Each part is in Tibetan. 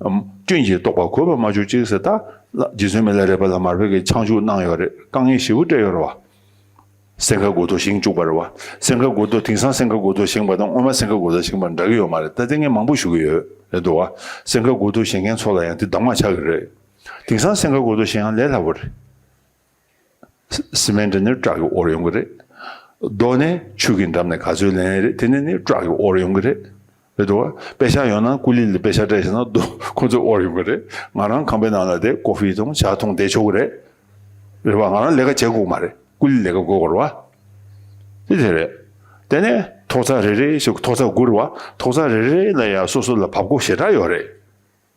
སྐྱོན་གྱིས་རྟོགས་པ་གོ་བ་མ་བཅུ་གཅིག་ཟད་ད། རྗེ་བཙུན་མི་ལ་རས་པ་ལ་མར་བོད་ཀྱི་ཆང་བཅུག་གནང་ཡོད་རེད་དཀའ་ངལ་ཞེ་བོ་སྤྲད་ཡོད་རེད་བ། སེང་ག་དགོ་ཐོ་བཞེངས་བཅུག་པ་རེད་བ། སེང་ག་དགོ་ཐོ་དེང་སང་སེང་ག་དགོ་ཐོ་བཞེངས་པ་དང་སྔོན་མ་སེང་ག་དགོ་ཐོ་བཞེངས་པ་འདྲ་གི་ཡོད་མ་རེད་ད་དེ་ངས་མང་པོ་ཞུ་གི་ཡོད་རེད་འདུག་བ། སེང་ག་དགོ་ཐོ་བཞེངས་མཁན་ཚོ་ལ་ཡང་དེ་གདམ་ངག་ཆགས་གི་རེད། དེང་སང་སེང་ག་དགོ་ཐོ་བཞེངས་ཡང་ལས་སླ་བོ་རེད། Cement ནི་བྲག་གི་དབོར་ཡོང་གི་རེད། རྡོ་ནི་ཆུ་གི་འགྲམ་ནས་ག་ཚོད་ལེན་ཡས་རེད་དེ་ནས་ནི་བྲག་གི་དབོར་ཡོང་གི་རེད། རེད་དོ། དཔེ་ཆ་ཡོང་ན་སྐུ་ལི་ལི་དཔེ་ཆ་སྤྲད་ཤེས་ན་རྡོ་ཁོ་ཚོས་དབོར་ཡོང་གི་རེད། ང་རང་ཁང་པའི་ནང་ལ་དེ་ཀོ་ཧྥི་དང་བྱ་འཐུང་འདེད་ཆོག་གི་རེད། རེད་བ་ང་རང་ལས་ཀ་བྱེད་དགོས་ཀྱི་མ་རེད་སྐུ་ལི་ལས་ཀ་དགོས་གོར་བ། དེ་དེ་རེད། དེ་ནས་ཐོག་རྩ་རེ་རེ་ཞིག་ཐོག་རྩ་དགུ་རེད་བ་ཐོག་རྩ་རེ་རེ་ལ་ཡང་སོ་སོ་ལ་བབ་སྒོ་ཞེ་དྲག་ཡོད་རེད།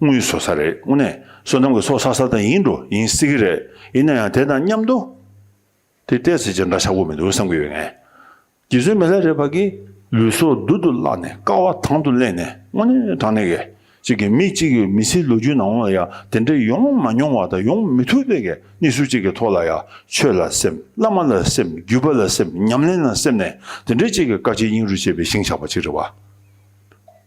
དངུལ་བཟོ་ས་རེད་དངོས་གནས་བསོད་ནམས་ཀྱི་ཚོགས་བསགས་ས་དང་ཡིན་འགྲོ་ཡིན་སྲིད་ཀྱི་རེད་ཡིན་ན་ཡང་དེ་དང་མཉམ་དུ། དེ་བལྟས་ཚེ་ཅི་འདྲ་ཆགས་པོ་མི་འདུག་བསམ་གྱི་ཡོད་ངེས། རྗེ་བཙུན་མི་ལྷ་རེད་བར་གྱི་ལུས་སྲོག་རྡུལ་དུ་བརླགས་ནས་ཀ་བ་དང་དུ་གླས་ནས་དངོས་གནས་དྲང་གནས་གས་ཅིག་གིས་མི་གཅིག་གི་མི་ཚེའི་ལོ་རྒྱུས་ནང་ལ་ཡང་དེ་འདྲ་ཡོང་མ་མྱོང་བ་དང་ཡོང་མི་ཐུབ་པའི་གས་གནས་ཚུལ་གཅིག་གི་ཐོག་ལ་ཡང་ཆོས་ལ་སེམས་བླ་མ་ལ་སེམས་བརྒྱུད་པ་ལ་སེམས་ཉམས་ལེན་ལ་སེམས་ནས་དེ་འདྲའི་གཅིག་གི་བཀའ་སྤྱི་སྙིང་རུས་བཅས་པའི་ཤིང་ཆགས་པ་གཅིག་རེད་བ།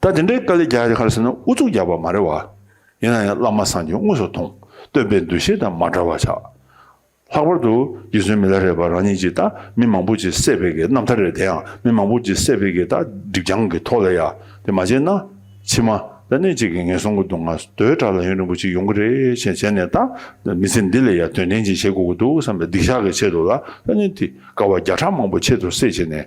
ད་དེ་འདྲའི་དཀའ་ལས་རྒྱག་རྒྱག་ཁར་ཟེར་ན་ཨུ་ཚུགས་རྒྱག་པ་མ་རེད་བ། ཡིན་ན་ཡང་བླ་མ་སངས་རྒྱས་དངོས་སུ་མཐོང་བསྟོད་པའི་འདུ་ཤེས་དང་མ་འདྲ་བ་ཆགས། ལྷག་པར་དུ་རྗེ་བཙུན་མི་ལ་རས་པ་རང་ཉིད་ཀྱིས་ད་མི་མང་པོ་ཅིག་བསད་པའི་གི་རྣམ་ཐར་རེད་དེ་ཡང་མི་མང་པོ་ཅིག་བསད་པའི་གི་ད་སྒྲིབ་རྐྱང་གི་ཐོག་ལ་ཡ་དེ་མ་བྱས་ན། ཕྱི་མ་ད་གནས་གཅིག་གི་ངན་སོང་གི་སྡུག་བསྔལ་དོའི་དྲག་ལ་ཡོན་རིང་པོ་ཅིག་ཡོང་གི་རེད་བྱས་བྱས་ནས་ད་མི་ཚེ་འདི་ལས་ཡ་དོན་ལྡན་ཅིག་བྱེད་དགོས་ཀྱི་འདུག་བསམ་པའི་སྡིག་བཤགས་ཀྱི་ཆེད་དུ་ལ་ད་གནས་དེ་དཀའ་བ་བརྒྱ་ཕྲག་མང་པོ་ཆེད་དུ་བསད་བྱས་ནས།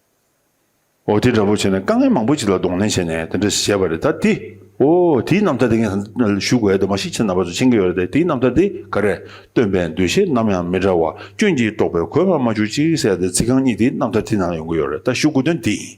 འོ་དེ་འདྲ་པོ་བྱས་ནས་དཀའ་ངལ་མང་པོ་ཞིག་ལ་གདོང་ལེན་བྱས་ནས་དེ་འདྲ་ཞིག་བྱས་པ་རེད་ད་དེ། འོ་དེའི་རྣམ་ཐར་དེ་ངས་ཞུ་དགོས་ཡ་དེ་མ་ཤི་ཆེ་ན་པ་ཚོ་མཆན་འགེལ་བ་རེད་དེ་དེའི་རྣམ་ཐར་དེ་ག་རེད་སྟོན་པའི་འདུ་ཤེས་ནམ་ཡང་མི་འདྲ་བ་སྐྱོན་གྱིས་དཀྲོགས་པའི་གོས་པ་མ་བྱུག་ཅིག་ཟེར་ཡ་དེ་ཚིག་རྐང་གཉིས་དེའི་རྣམ་ཐར་དེ་ནང་ཡོང་གི་ཡོད་རེད་ད་ཞུ་དགོས་དོན་དེ་ཡིན།